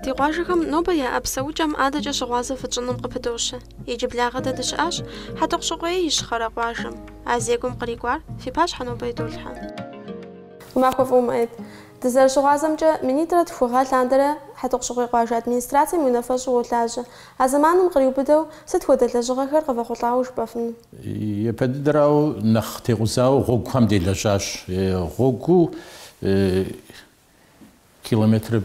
Ди къуажэхэм нобэ яӏэ псэукӏэм адэкӏэ щыгъуазэ фытщӏыным къыпыдощэ. Иджыблагъэ дэ дыщыӏащ Хьэтӏохъущыкъуей Ищхъэрэ къуажэм. А зекӏуэм кърикӏуар фи пащхьэ нобэ идолъхьэ. Махуэ фӏыуэ, Муӏэед. Дызэрыщыгъуазэмкӏэ, минитӏрэ тхугъэ лъандэрэ Хьэтӏохъущыкъуей къуажэ администрацэм и унафэщӏу уолажьэ. А зэманым къриубыдэу, сыт хуэдэ лэжьыгъэхэр къывэхъулӏауэ жыпӏэфыну? Япэ дыдэрауэ, нэхъ текъузауэ гъуэгухэм делэжьащ. Гъуэгуу километр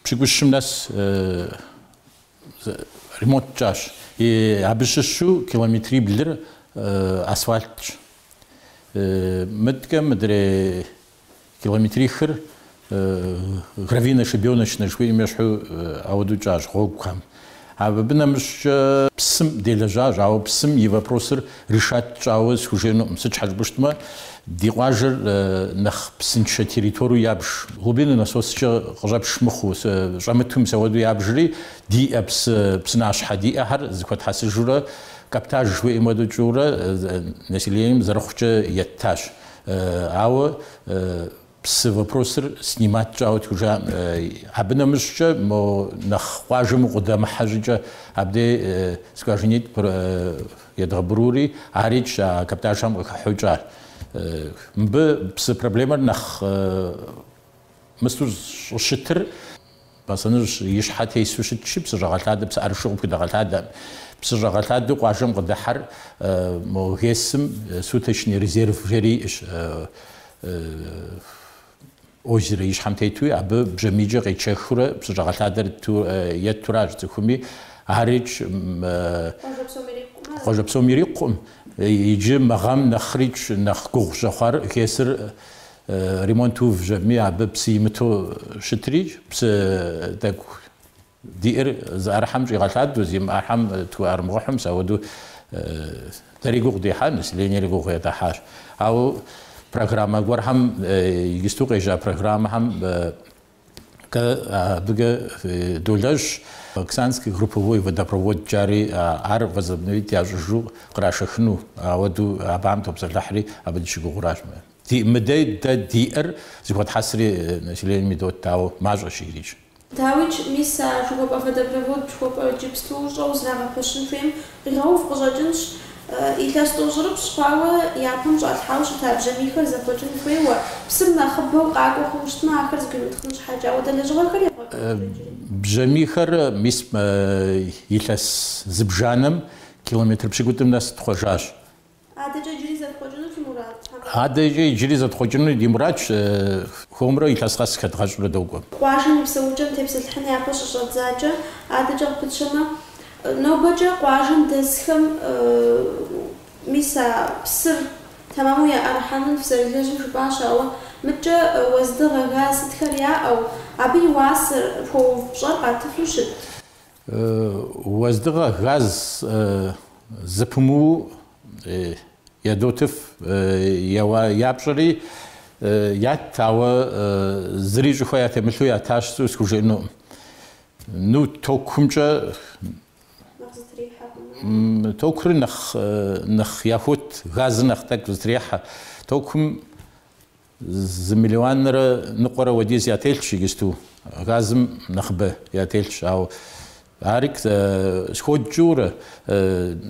пщыкӏущым нэс ремонт тщӏащ. Абы щыщу километриблыр асфальтщ. Мыдэкӏэ мыдрей. Километрихыр гравийно-щебеночный жыхуиӏэм ещхьу ауэдэу тщӏащ гъуэгухэм. Абы нэмыщӏкӏэ псым делэжьащ, ауэ псым и вопросыр решать тщӏауэ схужеӏэнукъым. Сыт щхьэ жыпӏэу щытмэ, ди къуажэр нэхъ псыншэ территориеу ябж. Глубинный насоскӏэ къыщӏэпш мыхъуу, щӏэмыту мис ауэдэу ябжри, диӏэ псы, псынащхьэ диӏэхэр зыхуэтхьэсыжурэ, каптаж жыхуиӏэм хуэдэу тщӏыурэ населением зэрыхъукӏэ еттащ. Ауэ псы вопросыр снимать тщӏауэ тхужаӏым. Абы нэмыщӏкӏэ мо нэхъ къуажэм укъыдэмыхьэ щӏыкӏэ абдей скважинитӏ едгъэубрури, арикӏ а каптажхэм къыхыхьэу тщӏащ. Мыбы псы проблемэр нэхъ мысту щӏыщытыр. Бэсэныжь и щхьэ тесу щытщи, псыщӏэгъэлъадэ псыӏэрышу къыпхудэгъэлъадэӏым. Псыщӏэгъэлъадэу къуажэм къыдыхьэр мо ГЭС-м суточный резерв жери иӏэщ, озеро и щхьэм тетуи, абы бжьамийкӏэ къетшэхыурэ псыщӏэгъэлъадэр еттуращ цӏыхуми. Арикӏ къуажэ псом ирикъукъым. Иджы мы гъэм нэхърикӏ нэхъ гугъу щӏэхъуар ГЭС-р Ремонт увжьэми, абы псы имыту щытрикӏ, псы тӏэкӏу диӏэр зыӏэрыхьэм щӏигъэлъадэу, зимыӏэрыхьэм тхуӏэрымыгъэхьу, мис ауэдэу дэри гугъу дехьа, населениери гугъу едгъэхьащ. Ауэ программэ гуэрхэм, иджысту къежьа программэхэм Дэ абыкӏэ долэжь, Баксанский групповой водопровод жари, ар возобновить ящӏыжу кърашэхыну, ауэду абыхэм топсэлъыхьри, абы дыщыгугъуращ. Мыдей дэ диӏэр зыхуэтхьэсри населением идот, ауэ мащӏэщ арикӏ. Дауикӏ, мис а жыхуэпӏэ водопровод жыхуэпӏэр иджыпсту щӏэу зрагъэпэщын хуейм Къигъэув къыщӏэкӏынщ. Илъэс тӏощӏрыпщӏ хъуауэ япэм щӏалъхьауэ щыта бжьамийхэр зэхъуэкӏын хуейуэ, псым нэхъыбэу къакӏуэ хъуну щытмэ, ахэр зэгуимытхъын щхьэкӏэ. Ауэдэ лэжьыгъэхэри. Бжьамийхэр мис илъэс зыбжанэм километр пщыкӏутӏым нэс тхъуэжащ. Адэкӏэ иджыри зэтхъуэкӏыну фи мурад? Адэкӏэ иджыри зэтхъуэкӏыну ди мурадщ. Хуэмурэ илъэс къэс хэдгъэщӏурэ докӏуэ. Къуажэм и псэукӏэм тепсэлъыхьын япэ щыщӏэдзакӏэ, адэкӏэ къыпытщэмэ, нобэкӏэ къуажэм дэсхэм, мис а псыр тэмэму яӏэрыхьэным фызэрылэжьым жыпӏащ, ауэ мыдкӏэ уэздыгъэ, газ сытхэр яӏэу, абы и уасэр, хуэув пщӏэр къатыфу щыт? Уэздыгъэ газ зыпымыуу ядотыф, я пщӏэри ят, ауэ зыри щӏыхуэ ятемылъу ятащ схужыӏэнукъым. Ну, токумкӏэ. Токури нэхъ яхуот, газыр нэхъ тӏэкӏу зытрехьэ. Токум. Зы миллионрэ ныкъуэрэ уэдиз ятелъщ иджысту, газым нэхъыбэ ятелъщ, ауэ ари сходкӏыурэ,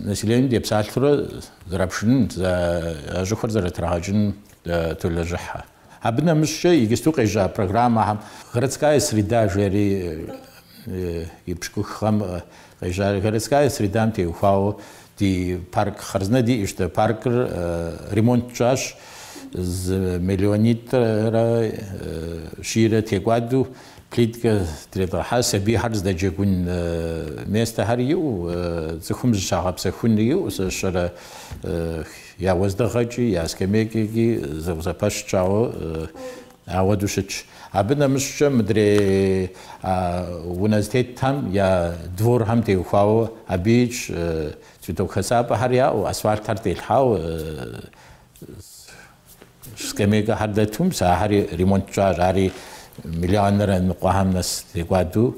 населением депсалъурэ зэрапшынын, а щӏыхуэр зэрытрагъэкӏыным толэжьыхьэ. Абы нэмыщӏкӏэ иджысту къежьа программэхэм Городская среда жери и пщыкӏуххэм Къежьа городская средам теухуауэ ди парк хъарзынэ диӏэщ. Паркыр ремонт тщӏащ зы миллионитӏрэ щийрэ текӏуадэу, плиткэ тредгъэлъхьащ, сабийхэр здэджэгун местэхэр иӏэу, цӏыхум зыщагъэпсэхун иӏэу, сащэрэ я уэздыгъэкӏи, я скамейкэкӏи зэӏузэпэщ щӏауэ Ауэду щытщ. Абы нэмыщӏкӏэ мыдрей унэ зытетхэм я дворхэм теухуауэ абыикӏ цветок хэсапӏэхэр яӏэу, асфальтхэр телъхьау, скамейкэхэр дэту, мис ахэри ремонт тщӏащ, ари миллионрэ ныкъуэхэм нэс текӏуаду.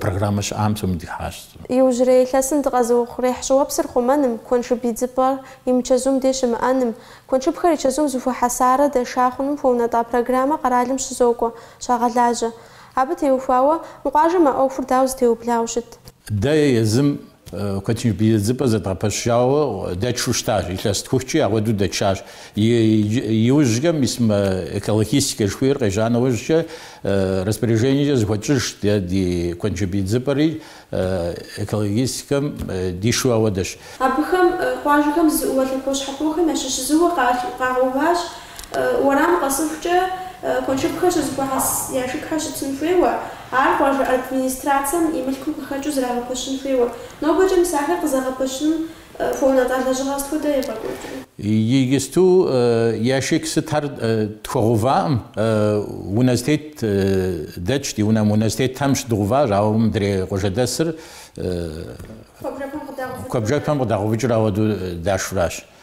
Программэ щыӏам псоми дыхыхьащ. Иужьрей илъэсым дыкъэзыухъуреихь щӏыуэпсыр хъумэным, куэншыб идзыпӏэр и мычэзум деж щымыӏэным, куэншыбхэр и чэзум зыхуэхьэсарэ дэша хъуным хуэунэтӏа программэ къэралым щызокӏуэ, щагъэлажьэ. Абы теухуауэ, мы къуажэм а ӏуэхур дауэ зытеублау щыт? Дэ е езым Куэншыб идзыпӏэ зэдгъэпэщауэ дэтшу щытащ, илъэситху-хыкӏи ауэду дэтшащ. Иужькӏэ мис мы экологистикэ жыхуиӏэр къежьа нэужькӏэ распоряжениекӏэ зыхуэтщӏыжщ, дэ ди куэншыб идзыпӏэри экологистикэм дишу ауэдэщ. Абыхэм, къуажэхэм зыӏууэ лъэпощхьэпохэм ящыщ зыуэ къагъэуващ Уэрам къэсыхукӏэ, куэншыбхэр щызэхуахьэс яшыкхэр щытын хуейуэ, ар къуажэ администрацэм и мылъкум къыхэкӏыу зрагъэпэщын хуейуэ. Нобэкӏэ мис ахэр къызэгъэпэщыным хуэунэтӏа лэжьыгъэ сыт хуэдэ евгъэкӏуэкӏрэ? Иджысту яшык сытхэр тхуэгъэувакъым, унэ зэтет дэтщ, ди унэм унэ зэтетхэм щыдгъэуващ, ауэ мыдрей къуажэдэсыр куэбжэхэм къыдагъэувыкӏыр ауэду дашуращ.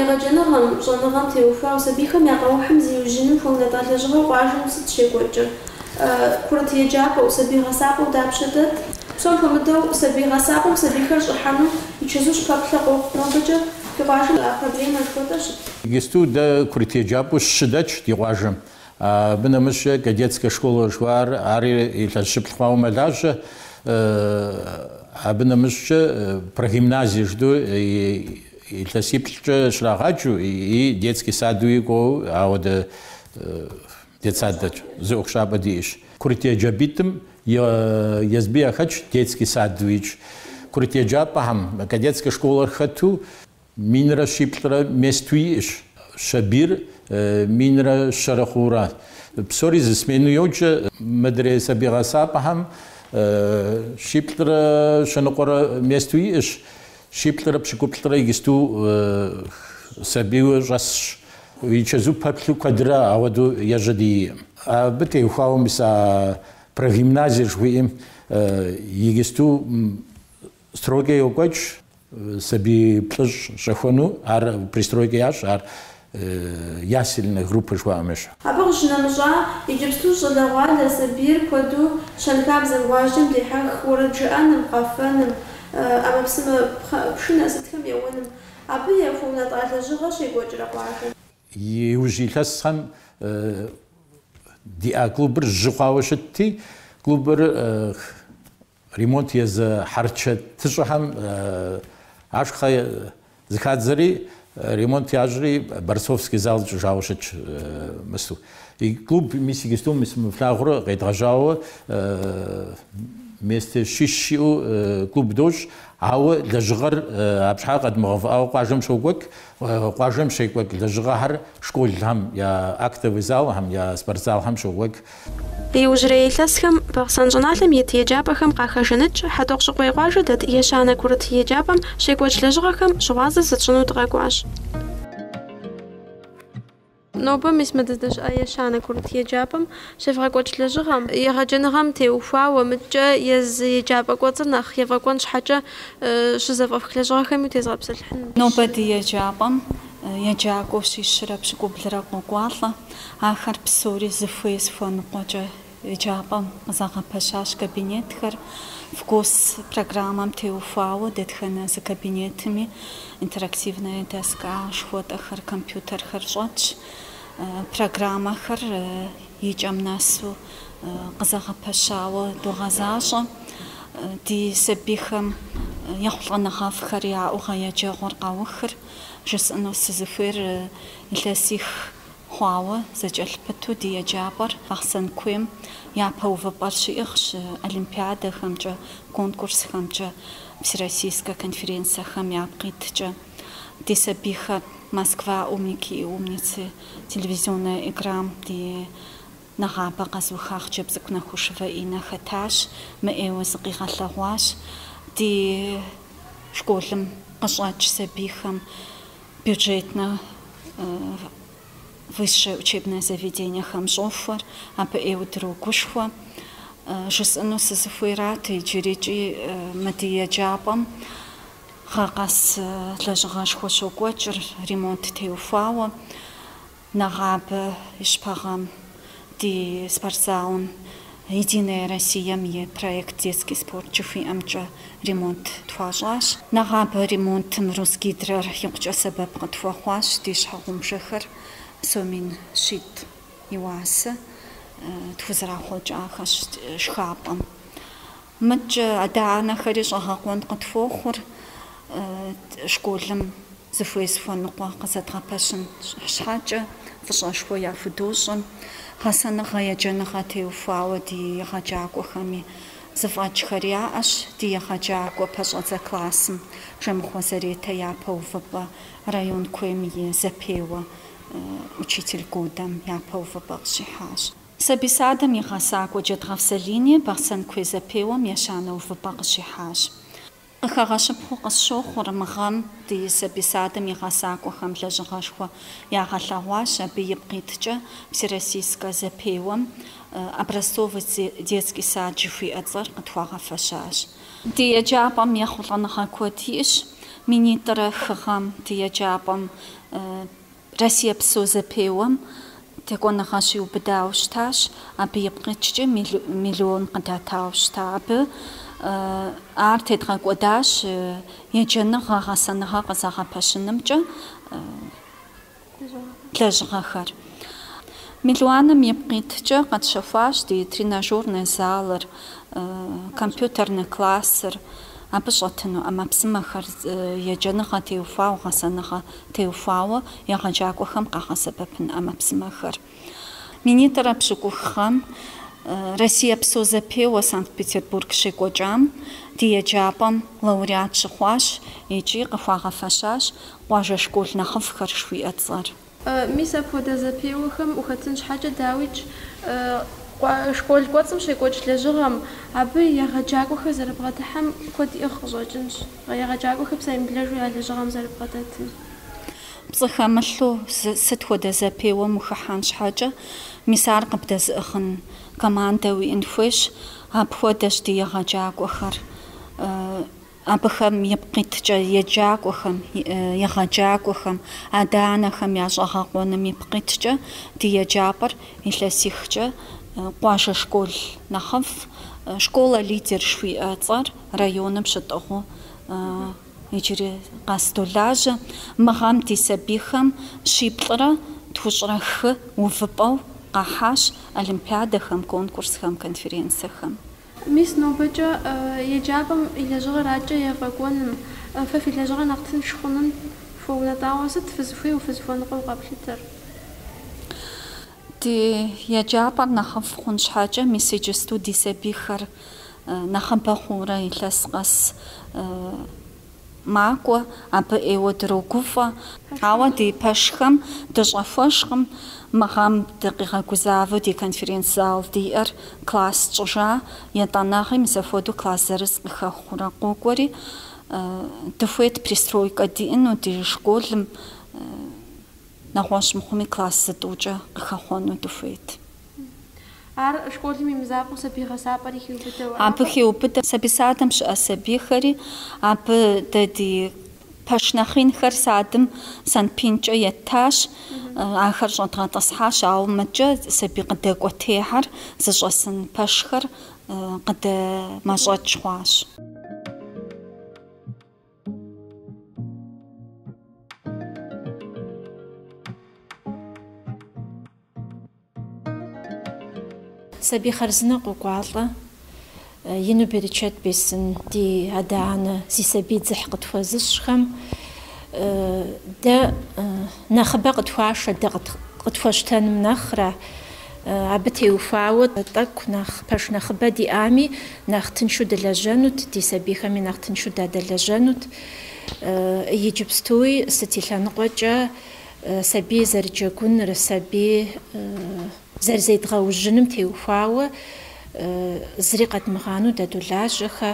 Егъэджэныгъэм, щӏэныгъэм теухуауэ сабийхэм я къэухьым зиужьыным хуэунэтӏа лэжьыгъэу къуажэм сыт щекӏуэкӏыр? Курыт еджапӏэу, сабий гъэсапӏэу дапщэ дэт? Псом хуэмыдэу, сабий гъэсапӏэм сабийхэр щӏыхьэну и чэзу щыпэплъэ къохъу. Нобэкӏэ ди къуажэм а проблемэр сыт хуэдэу щыт? Иджысту дэ курыт еджапӏэу щы дэтщ ди къуажэм. Абы нэмыщӏкӏэ кадетскэ школэ жыхуаӏэр ари илъэс щыплӏ хъуауэ мэлажьэ. Абы нэмыщӏкӏэ прогимназие жыдӏэу илъэсиплӏкӏэ щрагъаджэу и детский садуи кӏуэу ауэдэ детсад дэтщ, зы ӏуэхущӏапӏэ диӏэщ. Курыт еджапӏитӏым езыби яхэтщ детский садуикӏ. Курыт еджапӏэхэм кадетскэ школэр хэту. Минрэ щиплӏрэ месту иӏэщ, сабийр минрэ щэрэ хъуурэ. Псори зы смену йоджэ. Мыдрей сабий гъэсапӏэхэм щиплӏрэ щэныкъуэрэ месту иӏэщ, щиплӏрэ пщыкӏуплӏрэ иджысту сабийуэ щӏэсщ. И чэзу пэплъу куэдрэ ауэдэу ежьэ диӏэкъым. Абы теухуауэ мис а прогимназиер жыхуиӏэм иджысту стройкэ йокӏуэкӏ. Сабий плӏыщӏ щӏэхуэну ар пристройкэ ящӏ, ар ясельнэ группэ жыхуаӏэм ещхь. Абы къыщынэмыщӏа, иджыпсту щӏалэгъуалэ сабийр куэду щэнхабзэм, гъуазджэм дехьэх уэрэд жыӏэным, къэфэным, ӏэмэпсымэ пшынэ сытхэм еуэным. Абы яхуэунэтӏа лэжьыгъэ щекӏуэкӏрэ къуажэм? Иужь илъэсхэм диӏа клубыр жьы хъуауэ щытти, клубыр Ремонт езы хьэрычэтыщӏэхэм ашхъэ зэхадзэри, ремонт ящӏри, борцовский зал тщӏыжауэ щытщ Мысу. И клуб мис иджысту мис мы флъагъур къедгъэжьауэ месте щищ щиӏэу клуб дощӏ, ауэ лэжьыгъэр абщхьэкӏэ къэдмыгъэувыӏауэ къуажэм щокӏуэкӏ. Къуажэм щекӏуэкӏ лэжьыгъэхэр школхэм я актовый залхэм, я спортзалхэм щокӏуэкӏ. Иужьрей илъэсхэм Бахъсэн щӏыналъэм ит еджапӏэхэм къахэжаныкӏ Хьэтӏохъущыкъуей къуажэ дэт ещанэ курыт еджапӏэм щекӏуэкӏ лэжьыгъэхэм щыгъуазэ зытщӏыну дыкъэкӏуащ. Нобэ мис мы дыздэщыӏэ ещанэ курыт еджапӏэм щевгъэкӏуэкӏ лэжьыгъэм, егъэджэныгъэм теухуауэ, мыдкӏэ езы еджапӏэ кӏуэцӏыр нэхъ ефӏэкӏуэн щхьэкӏэ щызэфӏэфх лэжьыгъэхэми утезгъэпсэлъыхьынущ. Нобэ ди еджапӏэм еджакӏуэу щищрэ пщыкӏублырэ къокӏуалӏэ, ахэр псори зыхуей-зыхуэныкъуэкӏэ Еджапӏэм къызэгъэпэщащ кабинетхэр ФГОС программэм теухуауэ, дэтхэнэ зы кабинетми интерактивная доска, жыхуэтӏэхэр, компьютерхэр щӏэтщ. Программэхэр икӏэм нэсу къызэгъэпэщауэ догъэзащӏэ. Ди сабийхэм ехъулӏэныгъэфӏхэр яӏэу гъэ еджэгъуэр къаухыр, жысӏэну сызыхуейр илъэсих Хъуауэ, зэкӏэлъпыту ди еджапӏэр Бахъсэн куейм япэ увыпӏэр щиӏыгъщ олимпиадэхэмкӏэ, конкурсхэмкӏэ, всероссийскэ конференцэхэм япкъ иткӏэ. Ди сабийхэр Москва, Умники и умницы телевизионнэ играм ди нэгъабэ къэзыуха хъыджэбз цӏыкӏу Нахушевэ Иннэ хэтащ, мыӏейуэ зыкъигъэлъэгъуащ. Ди школым къыщӏэкӏ сабийхэм Бюджетнэ высшее учебнэ заведениехэм щӏохуэр абы ӏейуэ дрогушхуэ. Жысӏэну сызыхуейрат иджырикӏи мы ди еджапӏэм гъэ къэс лэжьыгъэшхуэ щокӏуэкӏыр, ремонт теухуауэ. Нэгъабэ и щыпэгъэм ди спортзалым Единая Россием и проект Детский спорт жыхуиӏэмкӏэ ремонт тхуащӏащ. Нэгъабэ ремонтым Русгидрэр икъукӏэ сэбэп къытхуэхъуащ, ди щхьэгъубжэхэр сом мин щитӏ и уасэ тхузэрахъуэкӏахэщ шхапӏэм. Мыдкӏэ адэ-анэхэри щӏэгъэкъуэн къытхуохъур школым зыхуей-зыхуэныкъуэ къызэдгъэпэщын щхьэкӏэ, фӏыщӏэшхуэ яхудощӏыр, гъэсэныгъэ-еджэныгъэ теухуауэ ди егъэджакӏуэхэми. Зэфӏэкӏхэр яӏэщ ди егъэджакӏуэ пэщӏэдзэ классым Жэмыхъуэ Заретэ япэ увыпӏэ, район куейм и зэпеуэ Учитель годэм япэ увыпӏэ къыщихьащ. Сабий садым и гъэсакӏуэ Джэдгъэф Залини Бахъсэн куей зэпеуэм ещанэ увыпӏэ къыщихьащ. Къыхэгъэщыпхъэу къысщохъур мы гъэм ди сабий садым и гъэсакӏуэхэм лэжьыгъэшхуэ ягъэлъэгъуащ абы ипкъ иткӏэ Всероссийскэ зэпеуэм Образцовый детский сад жыхуиӏэ цӏэр къытхуагъэфэщащ. Ди еджапӏэм ехъулӏэныгъэ куэд иӏэщ, минитӏрэ хы гъэм ди еджапӏэм. Россиепсо зэпеуэм текӏуэныгъэ щиубыдауэ щытащ, абы ипкъ иткӏэ миллион къыдатауэ щыта. Абы ар тедгъэкӏуэдащ еджэныгъэ, гъэсэныгъэ къызэгъэпэщынымкӏэ лэжьыгъэхэр. Миллионым ипкъ иткӏэ къэтщэхуащ ди тренажернэ залыр, компьютернэ классыр, абы щӏэтыну ӏэмэпсымэхэр, еджэныгъэ теухуауэ гъэсэныгъэ теухуауэ егъэджакӏуэхэм къагъэсэбэпын ӏэмэпсымэхэр. Минитӏрэ пщыкӏух гъэм Россиепсо зэпеуэ Санкт-Петербург щекӏуэкӏам ди еджапӏэм лауреат щыхъуащ икӏи къыхуагъэфэщащ къуажэ школ нэхъыфӏхэр жыхуиӏэ цӏэр. Мис апхуэдэ зэпеуэхэм ухэтын щхьэкӏэ, дауикӏ, школ кӏуэцӏым щекӏуэкӏ лэжьыгъэм, абы егъэджакӏуэхэр зэрыбгъэдыхьэм куэд иӏыгъ къыщӏэкӏынщ. Егъэджакӏуэхэр псэемыблэжу я лэжьыгъэм зэрыбгъэдэтым. Пцӏы хэмылъу сыт хуэдэ зэпеуэм ухыхьэн щхьэкӏэ, мис ар къыбдэзыӏыгъын командэ уиӏын хуейщ. Апхуэдэщ ди егъэджакӏуэхэр. Абыхэм ипкъ иткӏэ, еджакӏуэхэм, егъэджакӏуэхэм, адэ-анэхэм я щӏэгъэкъуэным ипкъ иткӏэ, ди еджапӏэр илъэсихкӏэ къуажэ школ нэхъыфӏ, школа-лидер жыхуиӏэ цӏэр, районым щытӏыгъыу иджыри къэс долажьэ. Мы гъэм ди сабийхэм щиплӏрэ тхущӏрэ хы увыпӏэу къахьащ олимпиадэхэм, конкурсхэм, конференциехэм. Мис нобэкӏэ еджапӏэм и лэжьыгъэр акӏэ ефӏэкӏуэным, фэ фи лэжьыгъэр нэхъ тынш хъуным хуэунэтӏауэ сыт фызыхуейуэ фызыхуэныкъуэу къэплъытэр? Ди еджапӏэр нэхъыфӏ хъун щхьэкӏэ, мис иджысту ди сабийхэр нэхъыбэ хъуурэ илъэс къэс макӏуэ, абы ӏейуэ дрогуфӏэ. Ауэ ди пэшхэм дыщӏэхуэжкъым мы гъэм дыкъигъэгузавэу ди конференц-зал диӏэр класс тщӏыжа, етӏанэгъи мис апхуэдэу класс зырыз къыхэхъуурэ къокӏуэри, дыхуейт пристройкэ диӏэну ди школым. Нэгъуэщӏ мыхъуми класс зытӏукӏэ къыхэхъуэну дыхуейт. Ар школым и мызакъуэу сабий гъэсапӏэри хиубыдэу аракъэ? Абы хеубыдэ сабий садым щыӏэ сабийхэри. Абы дэ ди пэш нэхъинхэр садым санпинкӏэ еттащ. Ахэр щӏэдгъэтӏысхьащ, ауэ мыкӏэ сабий къыдэкӏуэтехьэр зыщӏэсын пэшхэр къыдэмэщӏэкӏ хъуащ. Сабий хъарзынэ къокӏуалӏэ, ину берычэт бесын ди адэ-анэ зи сабий дзыхь къытхуэзыщӏхэм. Дэ нэхъыбэ къытхуашэ дэ къытхуэщтэным нэхърэ. Абы теухуауэ тӏэкӏу нэхъ пэш нэхъыбэ диӏами, нэхъ тыншу дылэжьэнут, ди сабийхэми нэхъ тыншу дадэлэжьэнут. Иджыпстуи сыт и лъэныкъуэкӏэ сабий зэрыджэгуныр, сабий зэрызедгъэужьыным теухуауэ зыри къэдмыгъанэу дадолажьэхэ.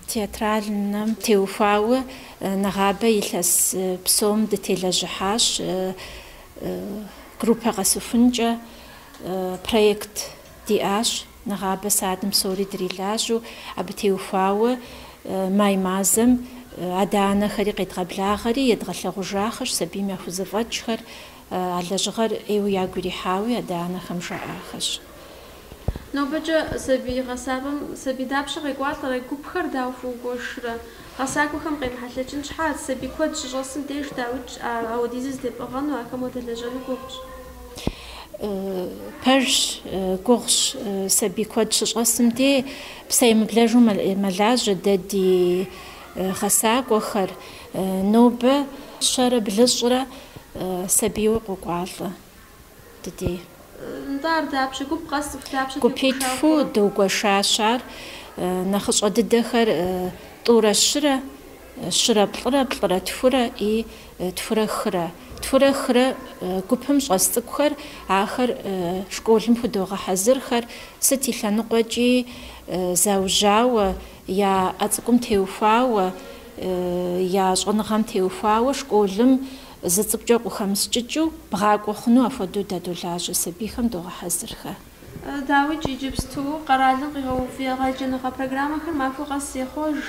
Театральнэм теухуауэ нэгъабэ илъэс псом дытелэжьыхьащ. группэ къэсыхункӏэ проект диӏащ. Нэгъабэ садым псори дрилажьэу, абы теухуауэ май мазэм адэ-анэхэри къедгъэблагъэри, едгъэлъэгъужахэщ сабийм яхузэфӏэкӏхэр. А лэжьыгъэр ӏейуэ ягу ирихьауи адэ-анэхэм жаӏахэщ. Нобэкӏэ сабий гъэсапӏэм сабий дапщэ къекӏуалӏэрэ, гупхэр дауэ фыугуэшрэ? Гъэсакӏуэхэм къемыхьэлъэкӏын щхьэкӏэ, сабий куэд щыщӏэсым деж дауикӏ апхуэдизыр зэтепӏыгъэну, ахэм уадэлэжьэну гугъущ. Пэжщ, гугъущ, сабий куэд щыщӏэсым деж, псэемыблэжу мэлажьэ дэ ди гъэсакӏуэхэр. Нобэ щэрэ блыщӏрэ сабийуэ къокӏуалӏэ. ди дей. Нтӏэ, ар дапщэ? Гуп къэс цӏыху дапщэ тегуэшауэ хъурэ? Гупитху дыугуэшащ ар. Нэхъыщӏэ дыдэхэр тӏурэ щырэ, щырэ плӏырэ, плӏырэ тхурэ и тхурэ хырэ. Тхурэ хырэ гупым щӏэс цӏыкӏухэр, ахэр школым худогъэхьэзырхэр, сыт и лъэныкъуэкӏи заужьауэ, я ӏэ цӏыкӏум теухуауэ, я щӏэныгъэм теухуауэ школым Зы цӏыкӏукӏэ къыхэмыскӏыкӏыу бгъакӏуэ хъуну апхуэдэу дадолажьэ сабийхэм догъэхьэзырхэ. Дауикӏ иджыпсту къэралым къигъэув егъэджэныгъэ программэхэр махуэ къэс ехъуэж.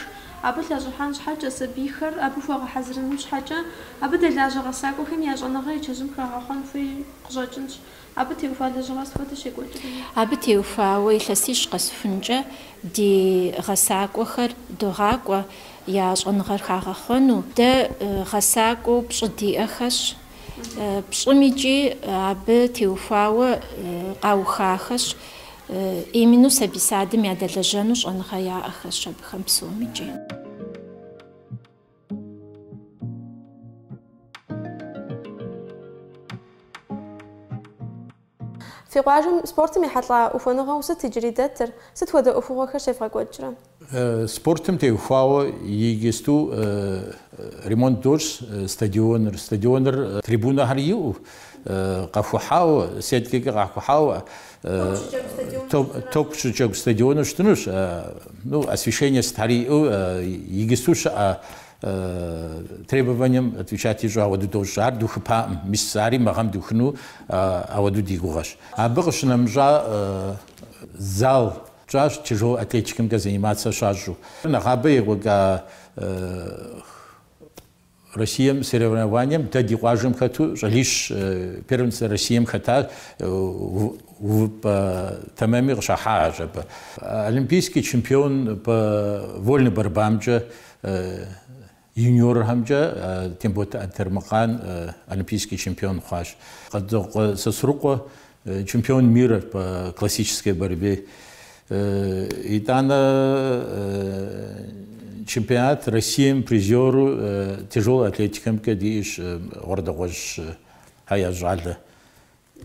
Абы лъэщӏыхьэн щхьэкӏэ, сабийхэр абы хуэгъэхьэзырыным щхьэкӏэ, абы дэлажьэ гъэсакӏуэхэм я щӏэныгъэр и чэзум хагъэхъуэн хуей къыщӏэкӏынщ. Абы теухуа лэжьыгъэр сыт хуэдэу щекӏуэкӏрэ? Абы теухуауэ илъэсищ къэсхункӏэ ди гъэсакӏуэхэр догъакӏуэ я щӏэныгъэр хагъэхъуэну. Дэ гъэсакӏуэу пщӏы диӏэхэщ, пщӏым икӏи абы теухуауэ къаухахэщ, именно сабий садым ядэлэжьэну щӏэныгъэ яӏэхэщ абыхэм псом икӏи. Фи къуажэм спортым ехьэлӏа ухуэныгъэу сыт иджыри дэтыр, сыт хуэдэ ӏуэхугъуэхэр щевгъэкӏуэкӏрэ? Спортым теухуауэ игысту ремонт дощӏ стадионыр. Стадионыр трибунэхэр иӏэу, къэхухьауэ, сеткэкӏэ къахухьауэ, Топ щыджэгу стадиону щытынущ. Ну, освещение сытхьэри иӏэу, игысту щыӏэ требованием отвечать ищӏу ауэду дощӏ. Ар духыпаӏым. Мис ари мы гъэм духыну ауэду ди гугъэщ. Абы къыщынэмыщӏа зал тщӏащ тяжелой атлетикэмкӏэ заниматься щащӏу. Нэгъабэ екӏуэкӏа Россием соревнованием дэ ди къуажэм хэту щӏалищ первенство Россием хэта увыпӏэ тэмэми къыщахьахьэщ абы. Олимпийский чемпион по вольной борьбамкӏэ юниорхэмкӏэ Тембот Антемыркъан олимпийский чемпион хъуащ. Къуэдзокъуэ Сосрыкъуэ Чемпион мира по классической борьбе. Итӏанэ чемпионат Россием призеру тяжелой атлетикэмкӏэ диӏэщ Гъуэрдэгъуэжьхьэ я щӏалэ.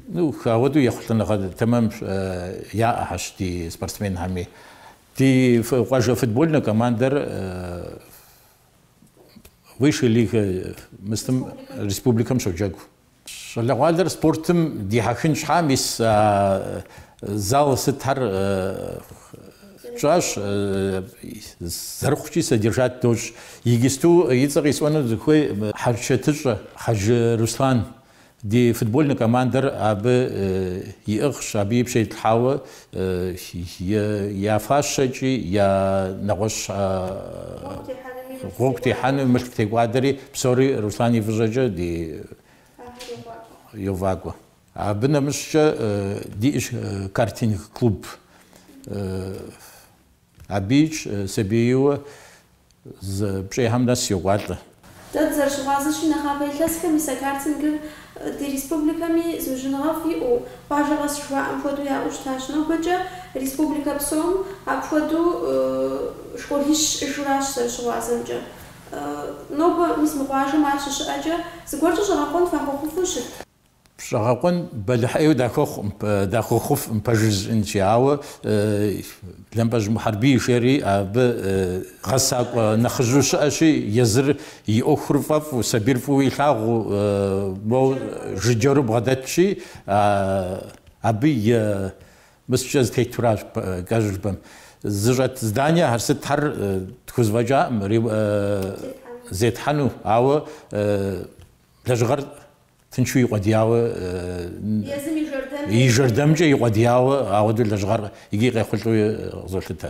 Ну, ауэдэу ехъулӏэныгъэ тэмэм яӏэхьэщ ди спортсменхэми. Ди къуажэ футбольнэ командэр высшей лигэ мыстым республикэм щоджэгу. Щӏалэгъуалэр спортым дихьэхын щхьа мис зал сытхьэр тщӏащ, зэрыхъукӏи содержать дощӏ. Игысту и цӏэ къисӏуэну сыхуейщ хьэрычэтыщӏэ Хьэжы Руслан. Ди футбольнэ командэр абы иӏыгъщ, абы и пщэ итлъхьауэ Я фащэкӏи я нэгъуэщӏ гъуэгу техьэну мылъку текӏуадэри, псори Руслан и фӏыщӏэкӏэ ди йовакӏуэ. Абы нэмыщӏкӏэ диӏэщ картинг клуб. Абыикӏ сабийуэ зы пщӏехьэм нэс йокӏуалӏэ. Дэ дызэрыщыгъуазэщи, нэхъапэ илъэсхэм мис а картингыр ди республикэми зыужьыныгъэфӏ иӏэу, къуажэ къэс жыхуаӏэм хуэдэу яӏэу щытащ. Нобэкӏэ республикэ псом апхуэдэу школищ щыӏэжуращ зэрыщыгъуазэмкӏэ. Нобэ, мис мы къуажэм ар щыщыӏэкӏэ, зыгуэркӏэ щӏэгъэкъуэн фахуэхъуфу щыт. Щӏэгъэкъуэн бэлыхьеу дахуэхъуфкъым пэжыр жысӏэнщи, ауэ Лэмпӏэжь Мухьэрбий жери абы гъэсакӏуэ нэхъыжьу щыӏэщи, езыр и ӏуэхур фӏэфӏу, сабийр фӏыуэ илъагъуу, моуэ жыджэру бгъэдэтщи, абы и нэмыскӏэ зэтетуращ кӏэщӏу жыпӏэм. Зыщӏэт зданиехэр сытхэр тхузэфӏэкӏакъым зетхьэну, ауэ. Лэжьыгъэр тыншу икъуэдияуэ, Езым и жэрдэмкӏэ. И жэрдэмкӏэ икъуэдияуэ, ауэдэу лэжьыгъэр икӏи къехъулӏэу къызолъытэ.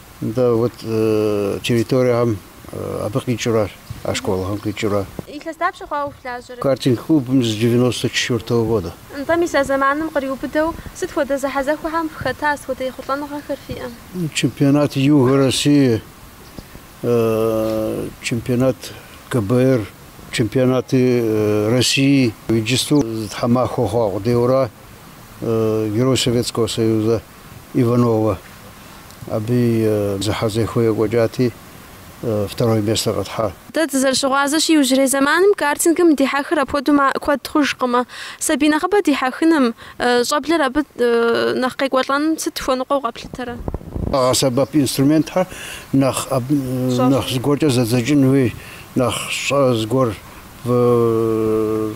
Да, вот территориехэм абы къикӏыурэ, а школхэм къикӏыурэ. Илъэс дапщэ хъуауэ фылажьэрэ? Картинг-клубым с девяносто четвертого года. Нтӏэ, мис а зэманым къриубыдэу сыт хуэдэ зэхьэзэхуэхэм фыхэта, сыт хуэдэ ехъулӏэныгъэхэр фиӏэ? Чемпионат Юга России, чемпионат КБР, чемпионаты России, иджысту зы тхьэмахуэ хъуа къудейуэра Герой Советского Союза. Иванова. Абы и зэхьэзэхуэ екӏуэкӏати, второй местэр къытхьа. Дэ дызэрыщыгъуазэщи, иужьрей зэманым картингым дихьэхыр апхуэдэу куэд хъужкъымэ. Сабий нэхъыбэ дихьэхыным, щӏэблэр абы нэхъ къекӏуэлӏэным сыт хуэныкъуэу къэплъытэрэ? Къагъэсэбэп инструментхэр нэхъ нэхъ зыгуэркӏэ зэдзэкӏын хуей, нэхъ щӏэ зыгуэр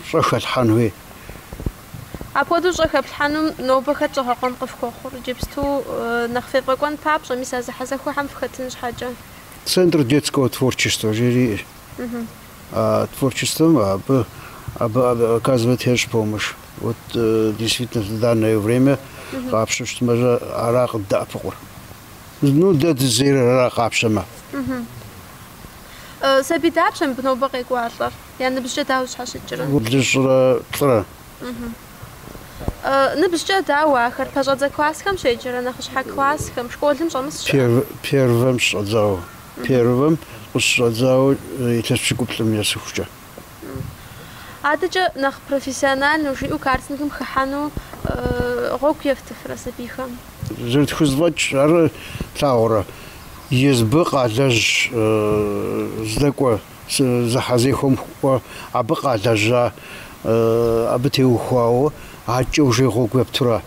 щӏэ хэлъхьэн хуей. Апхуэдэу щӏэ хэплъхьэнум нобэ хэт щӏэгъэкъуэн къыфхуэхъур, иджыпсту нэхъ фефӏэкӏуэн папщӏэ, мис а зэхьэзэхуэхэм фыхэтын щхьэкӏэ? Центр детского творчества жери иӏэщ. А творчествэм абы абы оказывать ещӏ помощь. Вот действительно в данное время къапщу щытмэжэ ара къыддэӏэпыкъур. Ну дэ дызейр ара къапщэмэ. Сабий дапщэ мыбы нобэ къекӏуалӏэр? Я ныбжькӏэ дауэ зэщхьэщыкӏрэ? Блыщӏрэ плӏырэ? Ныбжькӏэ дауэ ахэр? Пэщӏэдзэ классхэм щеджэрэ, нэхъыщхьэ классхэм, школым щӏэмыс щыӏэ? Первэм щыщӏэдзауэ. Первэм къыщыщӏэдзауэ илъэс пщыкӏуплӏым есыхукӏэ. Адэкӏэ нэхъ профессиональнэу жиӏэу картингым хыхьэну гъуэгу ефтыфрэ сабийхэм? Зэрытхузэфӏэкӏ ар плъагъурэ? Езыбы къалэжь здэкӏуэ. Зэхьэзэхуэм кӏуэ, абы къалэжьа, абы теухуауэ акӏэ уже гъуэгу ептура?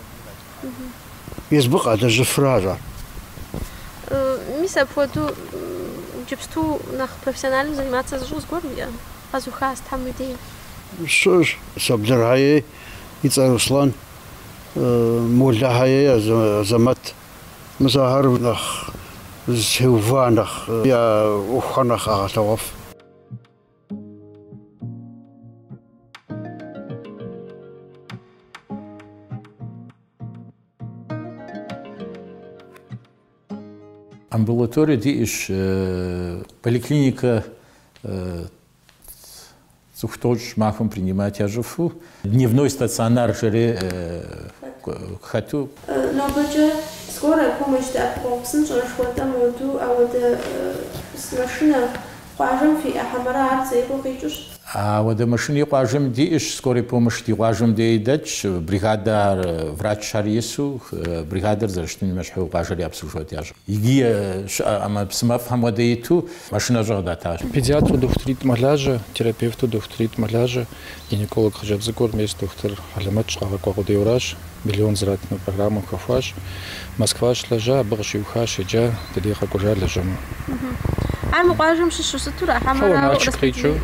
Езыбы къалэжьыфрэ ара? Мис апхуэдэу джыпсту нэхъ профессионально заниматься зыщӏу зыгуэр уиӏэ? Къэзыухахэм уи дей. Щыӏэщ, Саблырхэ ей и цӏэр Руслан, Молэхэ ей Азэмэт. Мис ахэр нэхъ зытеува, нэхъ я ӏуэхухэр нэхъ къагъэлъэгъуэф. Амбулаторие диӏэщ, поликлиникэ Цӏыху тӏощӏ махуэм принимать ящӏыфу, дневной стационар жери хэту. Нобэкӏэ скорая помощь дэӏэпыкъуэгъу псынщӏэр жыхуэтӏэм хуэду ауэдэ машинэ къуажэм фиӏэ хьэмэрэ ар Зеикъуэ къикӏыу щыт? Ауэдэ машини къуажэм диӏэщ, скорый помощь ди къуажэм дей дэтщ, бригадэ ар, врачхэр ису, бригадэр зэрыщытыным ещхьу къуажэр обслуживать ящӏ. Иджы щыӏэ ӏэмэпсымэфӏхэм хуэдэ иту машинэщӏэ къыдатащ. Педиатру дохутыритӏ мэлажьэ, терапевту дохутыритӏ мэлажьэ, гинеколог хъыджэбз цӏыкӏур мес дохутыр хьэлэмэтщ, къагъэкӏуа къудейуэращ, миллион зэратыну программэм хэхуащ. Москва щылэжьа, абы къыщиухащ, еджа, дыдей къэкӏуэжа лэжьэну. Ар мы къуажэм щыщу щыту ара хьэмэрэ Налшык къикӏыу?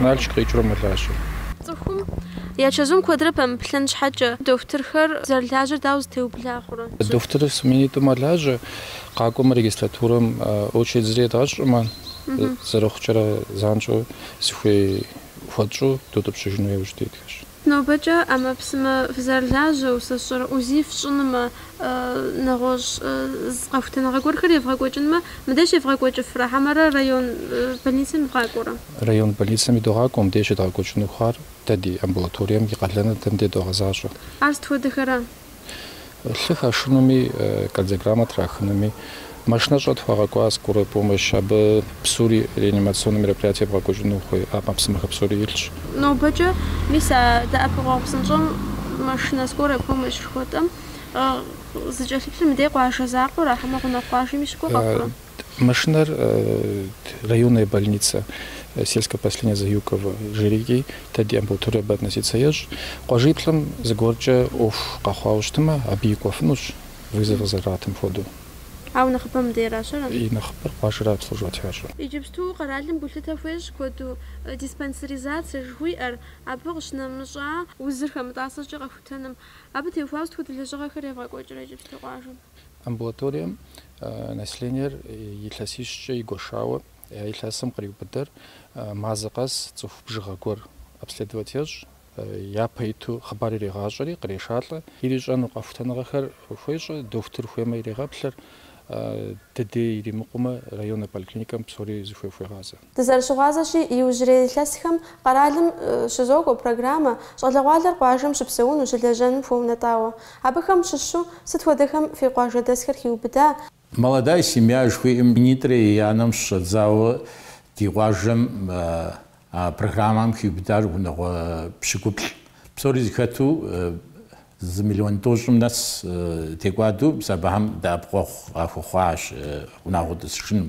Налшык къикӏыурэ мэлажьэ. Цӏыхум я чэзум куэдрэ пэмыплъэн щхьэкӏэ, дохутырхэр зэрылажьэр дауэ зэтеубла? Дохутырыр сменитӏу мэлажьэ, къакӏуэмэ регистратурэм очередь зыри едгъэщӏӏымэ, зэрыхъукӏэрэ занщӏэу зыхуей хуэтщӏу дутӏыпщыжыну яужь дитхэщ. Нобэкӏэ ӏэмэпсымэ фызэрылажьэу, сэ сщӏэрэ УЗИ фщӏынумэ, нэгъуэщӏ къэхутэныгъэ гуэрхэр евгъэкӏуэкӏынмэ, мыдеж евгъэкӏуэкӏыфрэ, хьэмэрэ район больницэм ивгъакӏуэрэ? Район больницэм идогъакӏуэ, мыдеж едгъэкӏуэкӏыну хъуар дэ ди амбулаторием и къалэныр дэ мыдей догъэзащӏэ. Ар сыт хуэдэхэра? Лъы хашынуми, кардиограммэ трахынуми, машинэщӏэ тхуагъэкӏуа скорой помощь, абы псори реанимационнэ мероприятие бгъэкӏуэкӏыну хуей ӏэмэпсымэхэ псори илъщ. Нобэкӏэ, мис а дэӏэпыкъуэгъу псынщӏэм машинэ скорой помощь жыхуэтӏэм зыкӏэлъыплъыр мыдей къуажэ закъуэра, хьэмэ гъунэгъу къуажэми щыкӏуэ къэхъурэ? Машинэр районная больница сельское поселение Заюково жери, иджы, дэ ди амбулатория абы относиться ещӏ. Къуажиплӏым зыгуэркӏэ ӏуэху къэхъуауэ щытмэ, абыи кӏуэфынущ, вызов къызэрыратым хуэдэу. Ауэ нэхъыбэм мыдейращэрэ? И нэхъыбэр къуажэрэ обслуживать ящӏэ. Иджыпсту къэралым гулъытэ хуещӏ куэду диспансеризацэ жыхуиӏэр, абы къыщынэмыщӏа. Узыр хэмытӏасэкӏэ къэхутэным. Абы теухуауэ сыт хуэдэ лэжьыгъэхэр евгъэкӏуэкӏрэ иджыпсту къуажэм? Амбулаторием населениер илъэсищкӏэ игуэшауэ я илъэсым къриубыдэр мазэ къэс цӏыху бжыгъэ гуэр обследовать ещӏ, япэ иту хъыбар иригъащӏэри, кърешалӏэ. Ирищӏэну къэхутэныгъэхэр хуещӏэ, дохутыр хуеймэ ирегъэплъыр, дыдей иримыкъумэ районнэ поликлиникэм псори зыхуей хуегъазэ. Дызэрыщыгъуазэщи, иужьрей илъэсхэм къэралым щызокӏуэ программэ щӏалэгъуалэр къуажэм щыпсэуну, щылэжьэну хуэунэтӏауэ. Абыхэм щыщу сыт хуэдэхэм фи къуажэдэсхэр хиубыда? Молодая семья жыхуиӏэм минитӏрэ еянэм щыщӏэдзауэ ди къуажэм а программэм хиубыдар унагъуэ пщыкӏуплӏ. Псори зыхэту зы миллион тӏощӏым нэс текӏуадэу мис абыхэм дэӏэпыкъуэгъу къахуэхъуащ унагъуэ тӏысыжыным,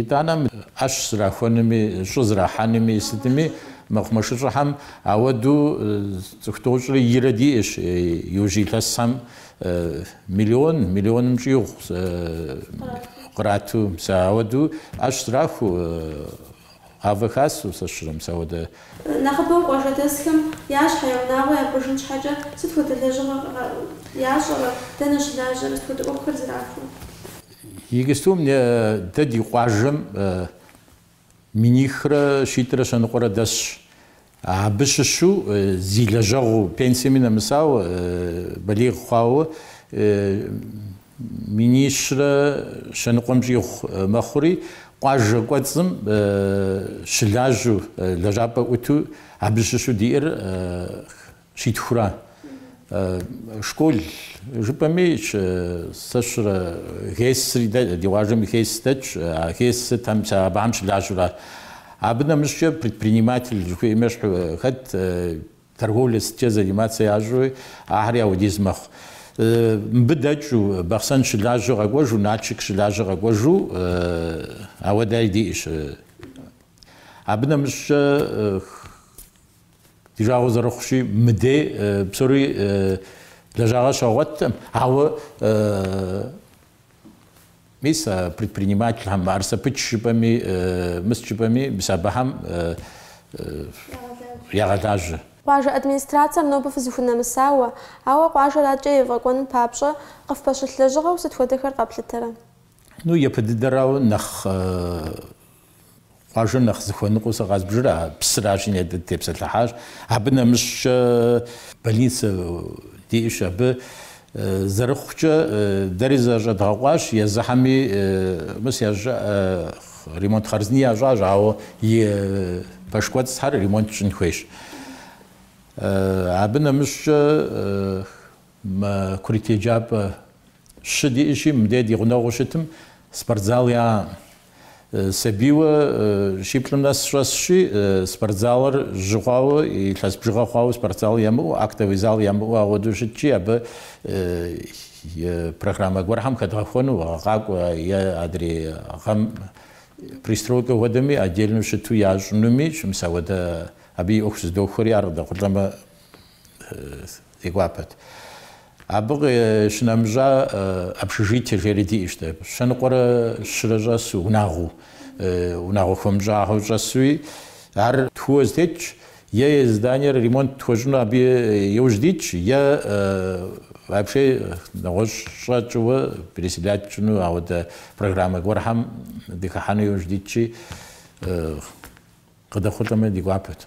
Итӏанэ мы ӏэщ зрахуэнми, щӏы зрахьэнми, сытми, мэкъумэшыщӏэхэм ауэду цӏыху тӏощӏрэ ирэ диӏэщ, иужь илъэсхэм миллион, миллионым щӏигъу кърату, мис ауэду ӏэщ зрахуэу, гъавэ хасэу сэ сщӏэрэ, мис ауэдэ. Нэхъыбэу къуажэдэсхэм я щхьэ, я унагъуэ япӏыжын щхьэкӏэ сыт хуэдэ лэжьыгъэ ящӏэрэ, дэнэ щылажьэрэ, сыт хуэдэ ӏуэхухэр зрахуэ? Иджыстум дэ ди къуажэм минихрэ щитӏрэ щэныкъуэрэ дэсщ. Абы щыщу зи лэжьэгъуу, пенсиеми нэмысауэ, балигъ хъуауэ минищрэ щэныкъуэм щӏигъу мэхъури, къуажэ кӏуэцӏым щылажьэу, лэжьапӏэ ӏуту абы щыщу диӏэр Щитхура? Школ жыпӏэми, сэ сщӏэрэ ГЭС-ри дэ, ди къуажэм и ГЭС дэтщ, а ГЭС-ыр там абыхэм щылажьэу ара. Абы нэмыщӏкӏэ предприниматель жыхуиӏэми щхь хэт, торговлэ сыткӏэ заниматься ящӏэуи, ахэри ауэдиз мэхъу. Мыбы дэкӏыу, Бахъсэн щылажьэу къэкӏуэжу, Налшык щылажьэу къэкӏуэжу, ауэдэи диӏэщ. Абы нэмыщӏкӏэ. Ди жагъуэ зэрыхъущи, мыдей псори лэжьагъэ щагъуэтӏым, ауэ мис а предпринимательхэм ар сэпыч жыпӏэми, мыс жыпӏэми, мис абыхэм ягъэлажьэ. Къуажэ администрацием нобэ фызыхунэмысауэ, ауэ къуажэр адэкӏэ ефӏэкӏуэным папщӏэ къыфпэщылъ лэжьыгъэу сыт хуэдэхэр къэплъытэрэ? Ну, япэ дыдэрауэ нэхъ Къуажэр нэхъ зыхуэныкъуэу сэ къазбжыр а псыращ, и ней тепсэлъыхьащ. Абы нэмыщӏкӏэ больницэ диӏэщ абы. Зэрыхъукӏэ, дэри зэщӏэдгъэкъуащ, езыхьэми мыс ящӏыӏэ ремонт хъарзыни ящӏащ, ауэ и пэш кӏуэцӏхэр ремонт щӏын хуейщ. Абы нэмыщӏкӏэ Мы курыт еджапӏэ щы диӏэщи, мыдей ди гъунэгъуу щытым спортзал яӏэкъым. Сабийуэ щиплӏым нэс щӏэсщи, спортзалыр жьы хъуауэ, илъэс бжыгъэ хъуауэ, спортзал ямыӏэу, актовый зал ямыӏэу ауэдэу щытщи, абы программэ гуэрхэм хэдгъэхуэну, къакӏуэ е адрей гъэм пристройкэ хуэдэми отдельнэу щыту ящӏынуми, мис ауэдэ абы и ӏуэху зыдохуэри, ар къыдэхъулӏэмэ, Ди гуапэт. Абы къищынэмыщӏа общежитие жери диӏэщ дэ. Щэныкъуэрэ щырэ щӏэсу унагъуэу, унагъуэ хуэмыщӏахэу щӏэсуи, ар тхууэ зэтетщ, е зданиер ремонт тхуэщӏыну абы иужь дитщ, е вообще нэгъуэщӏ щӏэ тщӏыуэ переселять тщӏыну ауэдэ программэ гуэрхэм дыхыхьэну иужь дитщи, къыдэхъулӏэмэ ди гуапэт.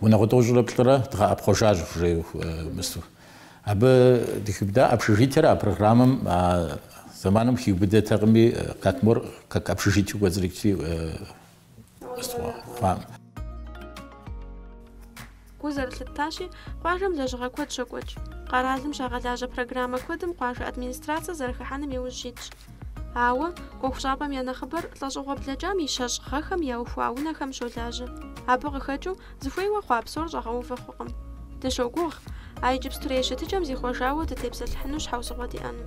Унагъуэ тӏощӏрэ плӏырэ дгъэӏэпхъуэжащ, жеу мысту. Абы дыхиубыда общежитиер а программэм а зэманым хиубыдэтэкъыми, Катмор как общежитиеу кӏуэцӏрыкӏти къыстхуэхъуам. Гу зэрылъыттащи, къуажэм лэжьыгъэ куэд щокӏуэкӏ. Къэралым щагъэлажьэ программэ куэдым къуажэ администрацэ зэрыхыхьэным и ужь щитщ. Ауэ, ӏуэхущӏапӏэм я нэхъыбэр лӏэщӏыгъуэ блэкӏам и щэщӏ гъэхэм яухуа унэхэм щолажьэ. Абы къыхэкӏыу, зыхуейуэ хъуа псор щӏэгъэувэ хъукъым. Дыщогугъ, а иджыпстурей щытыкӏэм зихъуэжауэ дытепсэлъыхьыну щхьэусыгъуэ диӏэну.